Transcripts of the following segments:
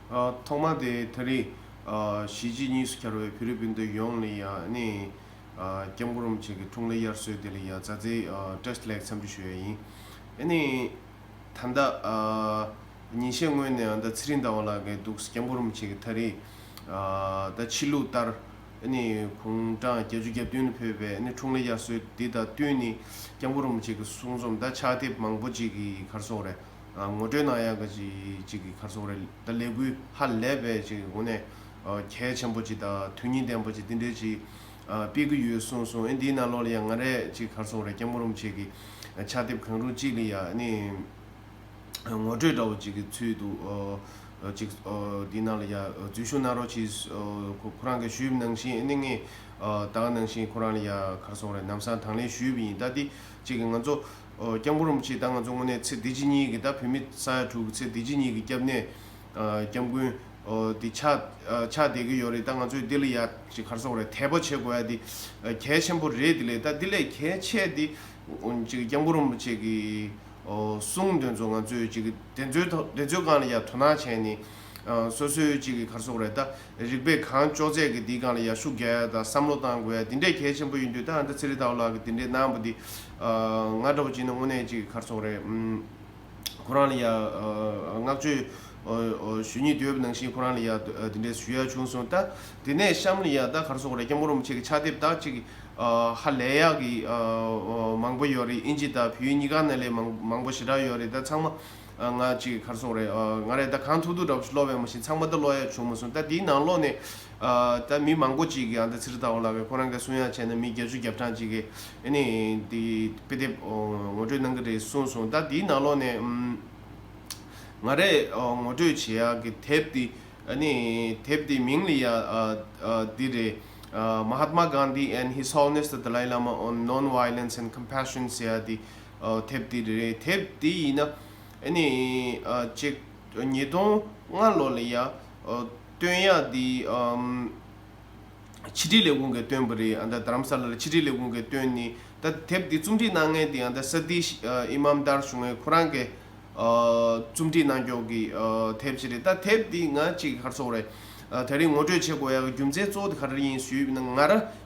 ཐོག་མ་དེ་ད་རེས་གཞིས་བྱེས་གཉིས་སུ་གྱར་བའི་ཕི་རི་པིན་དུ་ཡོང་ནས་ཡང་ནས་སྐྱབས་མགོ་རུམ་བྱེད་ཀྱི་འཁྲུངས་ལ་དབྱར་སྲོལ་དེ་ལ་ཡང་རྩ་རྩེའི Test Lag འཚམས་འདྲི་ཞུ་ཡ་ཡིན། ནས་ད་ཟླ་ཉིན་ཤས་སྔོན་ནས་ཨ་མདའ་ཚེ་རིང་ཟླ་བ་ལགས་འགས་འདུག་སྐྱབས་མགོ་རུམ་བྱེད་ཀྱི་ད་རེས་ད་ཕྱི་ལུགས་ལྟར་ནས་གུང་གྲངས་བརྒྱད་ཅུ་གྱ་བདུན་ལ་ཕེབས་པས་ནས་འཁྲུངས་ལ་དབྱར་སྲོལ་དེ་དང་བསྟུན་ནས་སྐྱབས་མགོ་རུམ་བྱེད་ཀྱི་གསུང་རྩོམ་ད་ཕྱག་དེབ་མང་པོ་ཅིག་གི་གར་སོང་རེད། ངོ་སྤྲོད་གནང་ཡག་གི་ཅིག་གི་ཁར་སོང་རེད་ད་ལས་འགུལ་ཧ་ལས་པའི་ཅིག་གི་སྒོ་ནས་གལ་ཆེན་པོ་ཅིག་དང་དོན་སྙིང་ལྡན་པོ་ཅིག་འདི་འདྲའི་ཅིག་སྤེལ་གི་ཡོད་གསུངས་སོང་ཨེ་འདིའི་ནང་ལོགས་ལ་ཡང་ང་རས་ཅིག་ཁར་སོང་རེད་སྐྱ་མོ་རུམ་ཆེ་གི་ཕྱག་དེབ་གང་རུང་ཅིག་ལ་ཡང་ནི་ངོ་སྤྲོད་འདྲ་བོ་ཅིག་གི་ཚུལ་དུ་ཅིག་འདིའི་ནང་ལ་ཡང་འཛུལ་བཞུགས་གནང་རོགས་ཅིག་ཁོ་རང་གི་ཞུས་གནང་བཞིན་ཨེ་ནི་ངས་བདག་གནང་བཞིན་ཁོ་རང་ལ་ཡང་ཁར་སོང་རེད་ནམ་སང་དང་ལེན་ཞུས་པ་ཡིན་ད་འདི། ཅིག་གིས་ང་ཚོ། སྐྱབས་མགོན་རིན་པོ་ཆེས་ད་ང་ཚོ་དངོས་གནས་ཚེ་འདི་ཕྱི་གཉིས་ཀྱི་ད་བུད་མེད་ས་ཡ་དྲུག་གི་ཚེ་འདི་ཕྱི་གཉིས་ཀྱི་སྐྱབས་གནས། སྐྱབས་མགོན། འདི་ཆགས། ཆགས་བསྡད་ཀྱི་ཡོད་རེད་ད་ང་ཚོས་འདི་ལ་ཡ། ཞིག་གར་སོང་རེད་དད་པ་བྱེད་དགོས་ཡ་འདི། གལ་ཆེན་པོ་རེད་འདི་ལས་ད་འདི་ལས་གལ་ཆེ་འདི། ཅིག་སྐྱབས་མགོན་རིན་པོ་ཆེ་གི། གསུང་དོན་ཚོ་ང་ཚོས་ཅིག་གི་དེ་ཚོའི་ཐོག་དེ་ཚོའི་སྒང་ལ་ཡ་དོ་སྣང་བྱས་ནས། སོ་སོའི་ཅིག་གི་གར་སོང་རེད་ད། རིག་པས་གང་ལྕོགས་མཛད་ཀྱི་འདིའི་སྒང་ལ་ཡར་ཤུགས་རྒྱག་དང་བསམ་བློ་བཏང་དགོས་ཡ་འདི་འདྲས་གལ་ཆེན་པོ་ཡིན་དུས་ད་ཨ་མདོ་ཚེ་རིང་ལྟ་བུ་ལགས་ཀྱི་འདི་འདྲས་གནང་བ་འདི། ང་འདྲ་བོ་གཅིག་ནི་དངོས་གནས་གཅིག་གི་ཁར་ཚོགས་རེད། ཁོ་རང་ལ་ཡ། བསྔགས་བརྗོད། ཞུ་ཉིད་དུས་བབ་ནང་བཞིན་ཁོ་རང་ལ་ཡ། འདི་འདྲས་ཞུ་ཡ་བྱུང་སོང་ད། དེ་ནས་གཤམ་ལ་ཡ་ད་གར་ཚོགས་རེད་སྐྱབས་མགོན་རིན་པོ་ཆེ་གི་ཕྱག་དེབ་དག་ཅིག། ཧ་ལས་ཡག་གི། མང་པོ་ཡོད་རེད་དབྱིན་ཇི་དང་བོད་ཡིག་གཉིས་ཀ་ན་ལས་མང་པོ་ཞེ་དྲག་ཡོད་རེད་ད་ཚང་མ། ང་གཅིག་གར་སོང་རེད་ང་རེད་ད་གང་ཐུག་ཐུག་འདྲ་བོ་ཞིག་ཀློག་བས་མ་ཤེས་ཚང་མ་ད་ཀློག་ཡ་བྱུང་མ་སོང་ད་དེའི་ནང་ལོགས་ནས་ད་མི་མང་པོ་གཅིག་གིས་ཨ་ད་ཚིར་ལྟ་བ་ལ་བས་ཁོ་རང་གིས་གསུང་ཡ་བྱས་ན་མི་བརྒྱ་བཅུ་བརྒྱ་ཕྲག་གཅིག་གིས་ཨ་ནི་དེ་དཔེ་དེབ་ངོ་སྤྲོད་གནང་གི་རེད་གསུངས་སོང་ད་དེའི་ནང་ལོགས་ནས་ང་རེད་ངོ་སྤྲོད་བྱེད་ཡ་གི་དེབ་དེ་ཨ་ནི་དེབ་དེའི་མིང་ལ་ཡ་འདི་རེད Mahatma Gandhi and His Holiness the Dalai Lama on Non-Violence and Compassion ཟེར་ཡ་དེ་དེབ་དེ་རེད་དེབ་དེ་ཡིན་ན་ཨ་ནི་ཅེག་ཉིས་སྟོང་ལྔ་ལོ་ལ་ཡང་བསྟོད་དབྱངས་འདི་ཕྱི་དྲིལ་ལས་ཁུངས་ཀྱིས་བཏོན་པ་རེད་ཨ་མདའ་དྷ་རམ་ས་ལ་ལ་ཕྱི་དྲིལ་ལས་ཁུངས་ཀྱིས་བཏོན་ནི་ད་དེབ་དེ་རྩོམ་སྒྲིག་གནང་མཁན་དེ་ཨ་མདའ་སཱ་ཏི་ཨི་མཱམ་དར་བྱུང་ངས་ཁོ་རང་གི་རྩོམ་སྒྲིག་གནང་ཕྱོགས་ཀྱི་དེབ་ཅིག་རེད་ད་དེབ་དེ་ང་གཅིག་གི་ཁར་ཚོགས་རེད་ད་རིང་ངོ་སྤྲོད་བྱེད་དགོས་ཡ་གི་རྒྱུ་མཚན་གཙོ་བོ་དེ་ག་རེ་ཡིན་ཞུས་ན་ང་རང་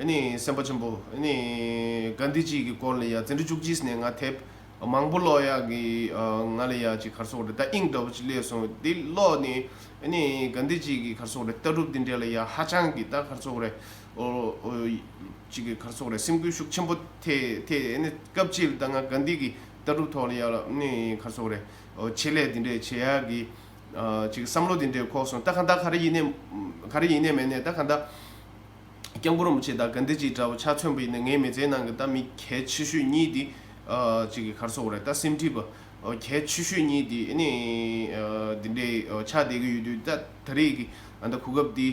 སེམས་དཔའ་ཆེན་པོ། གཱན་དྷི་ཇི་ཡི་སྐོར་ལ་ཡ་ཙི་འབྲི་བཅུ་གྱིས་ནས་ང་དེབ་མང་པོ་ཀློག་ཡ་གི་ང་ལ་ཡ་ཅིག་གར་སོགས་རེ་ད་ཨིང་འདྲ་བོ་ཅིག་སླེབས་སོང་འདི་ཀློག་ནས་གཱན་དྷི་ཇི་ཡི་གར་སོགས་རེ་ད་གྲུབ་འདི་འདྲ་ལ་ཡ་ཧ་ཅང་གི་ད་གར་སོགས་རེ་ཅིག་གི་གར་སོགས་རེ་སེམས་སྐུལ་ཤུགས་ཆེན་པོ་ཐེ་ཐེ་སྐབས་ཅིག་ད་ང་གཱན་དྷི་གི་ད་གྲུབ་ཐོག་ལ་ཡ་ལ་གར་སོགས་རེ་ཆེད་ལས་འདི་འདྲ་བྱེད་ཡ་གི་ཅིག་བསམ་བློ་འདི་འདྲ་ཁོག་སོང་ད་ག་ད་ག་རེ་ཡིན་ནས་ག་རེ་ཡིན་ནས་མེད་ནས་ད་ག་ད། སྐྱབས་མགོན་རིན་པོ་ཆེ་དང་དགའ་ལྡན་ཅིག་འདྲ་བོ་ཆ་མཚོན་པོ་ཡིན་ན་ངའི་མི་ཚེའི་ནང་གི་ད་མི་གལ་ཆེ་ཤོས་གཉིས་དེ་གཅིག་གི་གར་སོང་བ་རེད་ད་སེམས་ཁྲིད་པ་གལ་ཆེ་ཤོས་གཉིས་དེ་ནི་འདི་འདྲའི་ཆགས་བསྡད་ཀྱི་ཡོད་དུས་ད་ད་རེས་ཀྱི་ཨ་མདའ་གོ་སྐབས་དེ་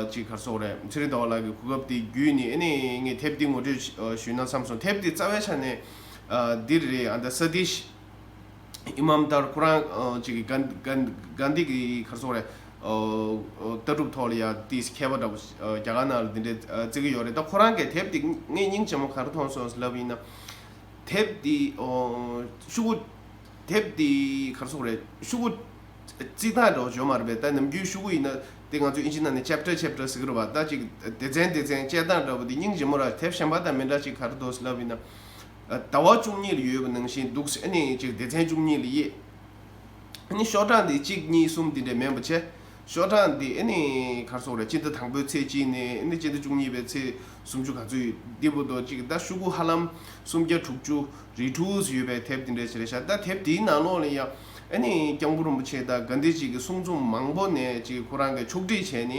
གཅིག་གར་སོང་བ་རེད་ཚེ་རིང་ཟླ་བ་ལགས་ཀྱི་གོ་སྐབས་དེ་བརྒྱུད་ནས་ནི་ངས་དེབ་དེ་ངོ་སྤྲོད་ཞུས་ན་བསམ་སོང་དེབ་དེ་རྩ་བའི་ཆ་ནས་འདིར་རེད་ཨ་མདའ་ས་ཏིས། ཨི་མཱམ་ཏར་ཁོ་རང་ཅིག་གིས་གཱན་དྷི་གི་གར་སོང་རེད། ལྟ་གྲུབ་ཐོག་ལ་ཡང་དེ་མཁས་པ་འདྲ་པོ་རྒྱ་གར་ནང་ལ་འདི་འདྲའི་བརྩི་གི་ཡོད་རེད་ད་ཁོ་རང་གིས་དེབ་དེ་ངས་སྙིང་རྗེ་མོ་གར་མཐོང་སོང་ཟེར་ལབ་ཡིན་ན། དེབ་དེ་ཤུ་གུ། དེབ་དེ་གར་སོང་རེད། ཤུ་གུ། རྩིས་ཐང་འདྲ་བོ་བྱོན་མ་རེད་པས་ད་ནམ་རྒྱུན་ཤུ་གུ་ཡིན་ན་དེ་ང་ཚོས་ཨིན་ཇི་ནང་ནས Chapter Chapter ཟེར་གི་རེད་བ་ད་ཅིག་སྡེ་ཚན་སྡེ་ཚན་དཔྱད་སྟངས་འདྲ་བོ་དེ་སྙིང་རྗེ་མོ་ར་དེབ་གཞན་པ་དང་མི་འདྲ་ཅིག་གར་འདུག་ཟེར་ལབ་ཡིན་ན། ཟླ་བ་བཅུ་གཉིས་ལ་ཡོད་པ་ནང་བཞིན་འདུག་སེམས་ནི་གཅིག་སྡེ་ཚན་བཅུ་གཉིས་ལ་དབྱེ། ནི་ཤོག་གྲངས་འདི་གཅིག་གཉིས་གསུམ་འདི་འདྲའི་མེད་པ་ཆེ། ཤོག་གྲངས་འདི་ནི་གར་སོང་རེད་སྤྱི་ཟླ་དང་པོའི་ཚེས་གཅིག་ནས་ནི་སྤྱི་ཟླ་བཅུ་གཉིས་པའི་ཚེས་སུམ་ཅུ་ག་ཚོད་ཡོད་འདི་པོ་ཏོ་གཅིག་ཟླ་ཤུ་གུ་ཧ་ལམ་སུམ་བརྒྱ་དྲུག་ཅུ་རེད་དྲུག་ཟེར་ཡོད་པའི་དེབ་འདི་འདྲའི་ཆེ་རེད་ཤག་ད་དེབ་འདིའི་ནང་ལོགས་ལ་ཡང་ནི་སྐྱང་པོ་རིན་པོ་ཆེ་དང་དགའ་འདི་གཅིག་གི་གསུང་རྩོམ་མང་པོ་ནས་གཅིག་ཁོ་རང་གིས་ཕྱོགས་བསྒྲིགས་བྱས་ནི།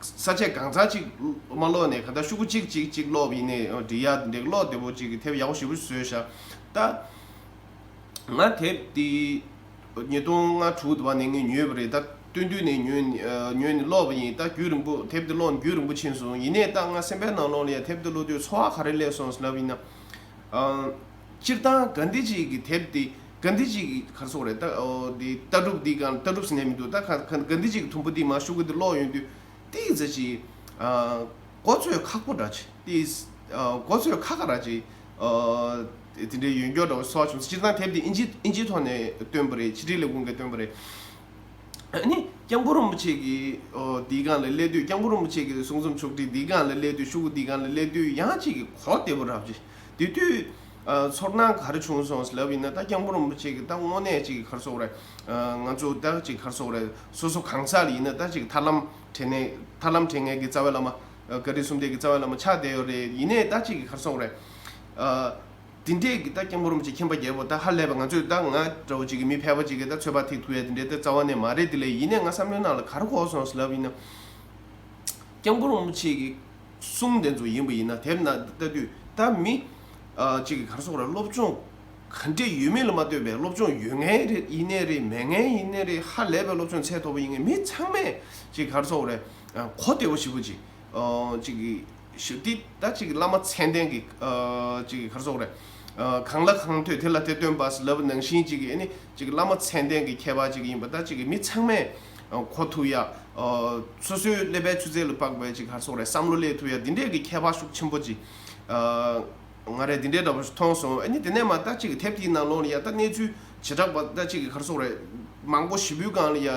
ས་ཆས་གང་ཚར་ཅིག་མ་སློག་ནས་ག་ད་ཤུག་གུ་ཅིག་ཅིག་ཅིག་སློག་ཡིན་ནའི་ཨོ་འདི་ཡ་འདེགས་སློག་བདེ་པོ་ཅིག་གི་ཐེབས་ཡག་པོ་ཞིབ་པོ་བཟོས་བཞག་ད། ང་དེབ་དེ་ཉིས་སྟོང་ལྔ་དྲུག་དུ་བ་ནས་ངས་ཉོས་པ་རེད་ད་སྟོན་དུས་ནས་ཉོས་ནས་སློག་པ་ཡིན་ད་རྒྱུས་རིང་པོ་དེབ་དེ་སློག་ནས་རྒྱུས་རིང་པོ་ཕྱིན་སོང་ཡིན་ནའི་ད་ང་སེམས་པའི་ནང་ལོང་ལ་ཡ་དེབ་དེ་སློག་དུས་འཚོ་བ་ག་རེ་སླེབས་སོང་ཟེར་ན་བིན་ན། སྤྱིར་བཏང་གཱན་དྷི་ཇི་ཡི་དེབ་དེ་གཱན་དྷི་ཇི་ཡི་གར་སོགས་རེད། ལྟ་གྲུབ་འདི་གང་ལྟ་གྲུབ་ཟེར་ནས་མི་འདུག་ད་གཱན་དྷི་ཇི་ཡི་དུམ་བུ་འདི་མ་བཞུགས་གི་འདི་ཀློག་ཡོང་དུས་ཏི་ཡི་ཛི་ཇི་གོ་ཚོད་ཁག་པོ་འདྲ་ཅི་ཏི་ཡི་གོ་ཚོད་ཁ་ཁ་ར་ཅི་དེ་འདྲའི་ཡོན་འགྱོག་འདྲ་བོ་སོགས་བྱུང་སྤྱིར་བཏང་དེབ་འདི་ཨིན་ཇི་ཨིན་ཇིའི་ཐོག་ནས་བཏོན་པ་རེད་ཕྱི་དྲིལ་ལས་ཁུངས་ཀྱིས་བཏོན་པ་རེད། ནི་སྐྱབས་མགོན་རིན་པོ་ཆེ་གི་འདི་གང་ལ་སླེབས་དུས་སྐྱབས་མགོན་རིན་པོ་ཆེ་གི་གསུང་རྩོམ་ཕྱོགས་བསྒྲིགས་འདི་གང་ལ་སླེབས་དུས་ཤུག་གུ་འདི་གང་ལ་སླེབས་དུས་ཡང་ཅིག་གི་གོ་བདེ་པོ་ར་བྱེད། དེ་དུས། ཚོར་སྣང་གར་བྱུང་སོང་ཟེར་ལབ་ཡིན་ན་ད་སྐྱག་འབུར་རིན་པོ་ཆེ་གི་ད་དངོས་གནས་གཅིག་གི་གར་སོགས་རེད། ང་ཚོ་ད་གཅིག་གར་སོགས་རེད་སོ་སོ་གང་ཟག་ལ་ཡིན་ན་ད་གཅིག་ཐར་ལམ་བྲལ་ནས་ཐར་ལམ་བྲལ་ངེས་ཀྱི་རྩ་བའི་བླ་མ། ཀ་རི་སུམ་ལྡན་གྱི་རྩ་བའི་བླ་མ་ཆགས་བསྡད་ཡོད་རེད་ཡིན་ནས་ད་གཅིག་གི་གར་སོགས་རེད། དེ་འདྲས་ཀྱི་ད་སྐྱག་འབུར་རིན་པོ་ཆེ་མཁྱེན་པ་རྒྱལ་པོ་ད་ཧ་ལས་པ་ང་ཚོས་ད་ང་འདྲ་བོ་གཅིག་གི་མི་ཕལ་པ་གཅིག་གི་ད་ཚོད་དཔག་ཐིག་ཐུག་ཡ་དེ་འདྲས་ད་རྩ་བ་ནས་མ་རེད་དེ་ལས་ཡིན་ནས་ང་བསམ་བློའི་ནང་ལ་གར་གོ་སོང་ཟེར་ལབ་ཡིན་ན། སྐྱག་འབུར་རིན་པོ་ཆེ་གི། གསུམ་འདི་ཚོ་ཡིན་པ་ཡིན་ན་དེར་ན་ལྟ་དུས་ད་མི་གཅིག་གིས་གར་སོང་ར་སློབ་སྦྱོང་ག་འདྲས་ཡོད་མེད་ལ་མ་ལྟོས་པའི་སློབ་སྦྱོང་ཡོད་ངེས་རེད་ཡིན་ནའི་རེད་མེད་ངེས་ཡིན་ནའི་རེད་ཧ་ལས་པའི་སློབ་སྦྱོང་ཚད་མཐོ་པོ་ཡིན་ངེས་མི་ཚང་མས་གཅིག་གར་སོང་རས་གོ་བདེ་བོ་ཞིག་བུ་གཅིག་གཅིག་གིས་འདི་ད་གཅིག་བླ་མ་མཚན་ལྡན་གི་གཅིག་གིས་གར་སོང་རས་གང་ལ་གང་ཐོས་དེ་ལ་དེ་སྟོན་པ་ལབ་ནང་བཞིན་གཅིག་གིས་ནི་གཅིག་བླ་མ་མཚན་ལྡན་གི་ཁྱད་པར་གཅིག་ཡིན་པ་ད་གཅིག་མི་ཚང་མས། ཁོ་ཐུག་ཡ། སོ་སོའི་ཀླད་པའི་ཆུ་ཚད་ལ་དཔག་པའི་ཅིག་ཧར་སོགས་རེད་བསམ་བློ་ལས་ཐུག་ཡ་འདི་འདྲས་ཀྱི་ཁྱད་པར་ཤུགས་ཆེན་པོ་ཅིག། ང་རས་འདི་འདྲས་འདྲ་པོ་ཞིག་མཐོང་སོང་ཨ་ནི་དེ་ནས་མ་ལྟ་ཅིག་དེབ་དེའི་ནང་ལོག་ནས་ཡ་ལྟ་གནས་ཚུལ་བྱེ་བྲག་པ་ལྟ་ཅིག་ཧར་སོགས་རེད། མང་པོ་བཞི་པོའི་སྒང་ལ་ཡ།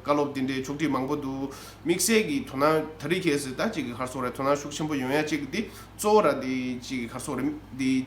བཀའ་སློབ་འདི་འདྲས་ཆོག་སྒྲིག་མང་པོ་འདུག་དམིགས་བསལ་གྱི་དོ་སྣང་ད་རེས་ཁྱེད་ཟེར་ལྟ་ཅིག་ཧར་སོགས་རེད་དོ་སྣང་ཤུགས་ཆེན་པོ་ཡོང་ཡ་ཅིག་འདི་གཙོ་བོ་ར་འདི་ཅིག་ཧར་སོགས་རེད། འདི།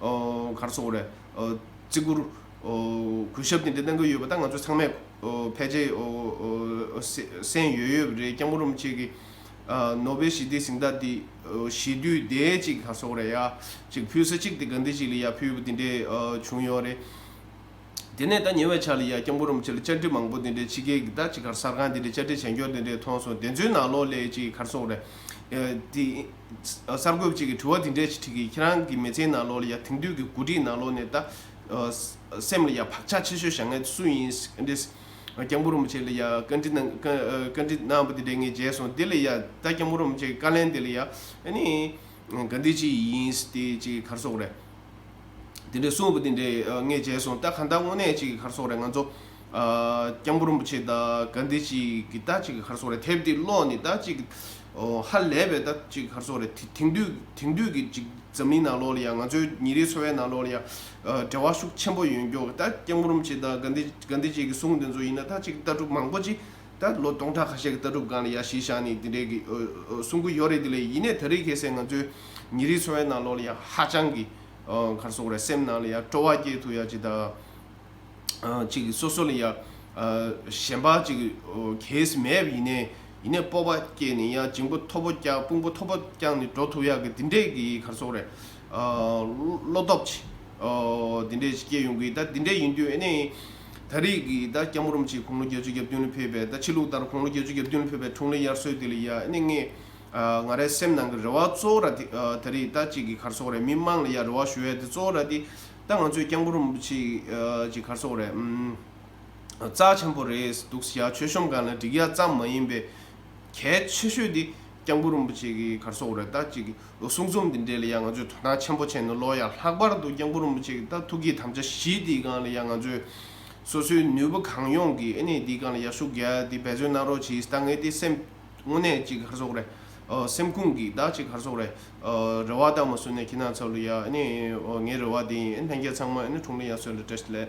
གར་སོགས་རེད། བརྩི་བཀུར། གུས་ཞབས་དེ་འདྲ་གནང་གི་ཡོད་པ་ད་ང་ཚོ་ཚང་མས་ཕལ་ཆེར་གསན་ཡོད་ཡོད་རེད་སྐྱག་མོ་རུམ་བཅས་ཀྱི་ནོ་བེལ་ཞི་བདེའི་གཟེངས་རྟགས་དེ་ཞི་དུལ་ལྡན་ཅིག་གར་སོགས་རེད་ཡ་ཅིག་ཕུལ་ས་གཅིག་དེ་དགའ་འདི་ཞིག་ལ་ཡ་ཕུལ་བ་དེ་འདྲས་བྱུང་ཡོད་རེད། དེ་ནས་ད་ཉེ་བའི་ཆར་ལ་ཡ་སྐྱག་མོ་རུམ་བཅས་ལ་བཅར་འདྲི་མང་པོ་དེ་འདྲས་ཕྱི་རྒྱལ་གྱི་ད་ཅིག་གར་གསར་ཁང་དེ་འདྲས་བཅར་འདྲི་བྱས་མགྱོགས་དེ་འདྲས་མཐོང་སོང་བདེན་རྫུན་ནག་ལོག་ལས་ཅིག་གར་སོགས་རེད། གསར་འགོད་ཅིག་གིས་དྲི་བ་འདི་འདྲའི་ཞིག་དྲིས་ཀི་ཁྱེད་རང་གི་མི་ཚེའི་ནང་ལོགས་ལ་ཡ་དེང་དུས་ཀྱི་གོ་སྒྲིག་ནང་ལོགས་ནས་ད་སེམས་ལ་ཡ་བག་ཆགས་ཆེ་ཤོས་བཞག་ན་སུ་ཡིན་རེད། སྐྱབས་མགོན་རིན་པོ་ཆེ་ལ་ཡ་བཀའ་འདྲི་གནང་བཀའ་འདྲི་གནང་བ་དེ་འདྲས་ངས་མཇལ་སོང་དེ་ལ་ཡ་ད་སྐྱབས་མགོན་རིན་པོ་ཆེ་གི་བཀའ་ལན་དེ་ལ་ཡ་ནི་ག་འདི་ཅི་ཡིན་དེ་ཅི་གར་སོགས་རེད། དེ་འདྲས་གསུངས་བ་དེ་འདྲས་ངས་མཇལ་སོང་ད་ག་ད་དངོས་གནས་ཅི་གི་གར་སོགས་རེད་ང་ཚོ་སྐྱབས་མགོན་རིན་པོ་ཆེས་ད་ག་འདི་ཅིག་གི་ད་ཅིག་གི་ཁར་སོང་རེད་དེབ་འདི་ཀློག་ནི་ད་ཅིག་ཧ་ལས་པའི་ད་ཅིག་གི་ཁར་སོང་རེད་དེང་དུས་དེང་དུས་ཀྱི་ཅིག་འཛམ་གླིང་ནང་ལོགས་ལ་ཡང་ང་ཚོའི་ཉིན་རེའི་འཚོ་བའི་ནང་ལོགས་ལ་ཡང་འབྲེལ་བ་ཤུགས་ཆེན་པོ་ཡོད་མགྱོགས་གི་ད་སྐྱབས་མགོན་རིན་པོ་ཆེས་ད་ག་འདི་ག་འདི་ཅིག་གི་གསུང་དེ་ཚོ་ཡིན་ན་ད་ཅིག་ལྟ་གྲུབ་མང་པོ་ཅིག་ད་ལོ་སྟོང་ཕྲག་ཁ་ཤས་ཀྱི་ལྟ་གྲུབ་སྒང་ལ་ཡང་གཞིས་བཞག་ནས་འདི་འདྲའི་གི་གསུང་གི་ཡོད་རེད་དེ་ལས་ཡིན་ནས་ད་རེས་ཁྱེད་སེང་ང་ཚོའི་ཉིན་རེའི་འཚོ་བའི་ནང་ལོགས་ལ་ཡང་ཧ་ཅང་གི་ཁར་སོང་རེད་སེམས་ནང་ལ་ཡང་སྤྲོ་བ་སྐྱེས་ཐུབ་ཡ་ཅིག་ད། ཅིག་སོ་སོ་ལ་ཡང་གཞན་པ་ཅིག་གེས་མེད་པ་ཡིན་ནའི་སྤོབས་པ་སྐྱེས་ནས་ཡང་འཇིང་པོ་མཐོ་པོ་བསྐྱངས་དཔུང་པོ་མཐོ་པོ་བསྐྱངས་ནས་འགྲོ་ཐུབ་ཡག་གི་འདི་འདྲས་ཀྱི་གར་སོང་རེད། བློ་སྟོབས་ཅིག་འདི་འདྲས་ཅིག་སྐྱེས་ཡོང་གི་ད་འདི་འདྲས་ཡིན་དུས་ཨེ་ནས་ད་རེས་ཀྱི་ད་སྐྱ་མོ་རུམ་ཅིག་ཁོང་ལོ་བརྒྱད་ཅུ་གྱ་བདུན་ལ་ཕེབས་པས་ད་ཕྱི་ལུགས་ལྟར་ཁོང་ལོ་བརྒྱད་ཅུ་གྱ་བདུན་ལ་ཕེབས་པའི་འཁྲུངས་ལོའི་དབྱར་སོས་དེ་ལ་ཡང་ཨེ་ནས་ངས་ང་རའི་སེམས་ནང་གི་རེ་བ་གཙོ་བོ་ར་དེ་ད་རེས་ད་ཅིག་གི་གར་སོང་རེད་མི་དམངས་ལ་ཡང་རེ་བ་ཞུ་ཡ་དེ་གཙོ་བོ་ར་དེ། ད་ང་ཚོས་རྐྱང་བུ་རིན་པོ་ཆེ་གྱི་གར་སོགས་རེད། རྩ་ཆེན་པོ་རེད་འདུག་གཟི་ཡག་ཆོས་གཤོམ་གང་ལ་འགྲིག་ཡག་ཙམ་མ་ཡིན་པའི། གལ་ཆེ་ཤོས་དེ་རྐྱང་བུ་རིན་པོ་ཆེ་གི་གར་སོགས་རེད་ད་ཅིག་གསུང་རྩོམ་འདི་འབྲེལ་ལ་ཡང་ང་ཚོས་དོ་སྣང་ཆེན་པོ་བྱས་ནས་ཀློག་ཡག་ལྷག་པར་དུ་རྐྱང་བུ་རིན་པོ་ཆེ་གི་ད་ཐུག་གི་དམ་བཅའ་བཞི་དེའི་སྒང་ལ་ཡང་ང་ཚོས་སོ་སོའི་ནུས་པ་གང་ཡོང་གིས་ཨེ་ནས་དེའི་སྒང་ལ་ཡག་ཤུགས་རྒྱག་སྟེ་འབད་བརྩོན་གནང་རོགས་གྱིས་ད་ངའི་དེ་སེམས་དངོས་གནས་ཀྱི་གར་སོགས་རེད། སེམས་ཁུངས་ཀྱི་བདག་ཅིག་ཧར་སོག་རེད། རེ་བ་དག་མ་བསུ་ནས་ཁྱེད་རྣམས་ཚབ་ལུ་ཡ། ངའི་རེ་བ་དེ་ཡིན། ལྷན་རྒྱས་ཚང་མ་གྲུང་ལི་ཡ་སོད་ལ་བྲེ་སྟེ་ལས།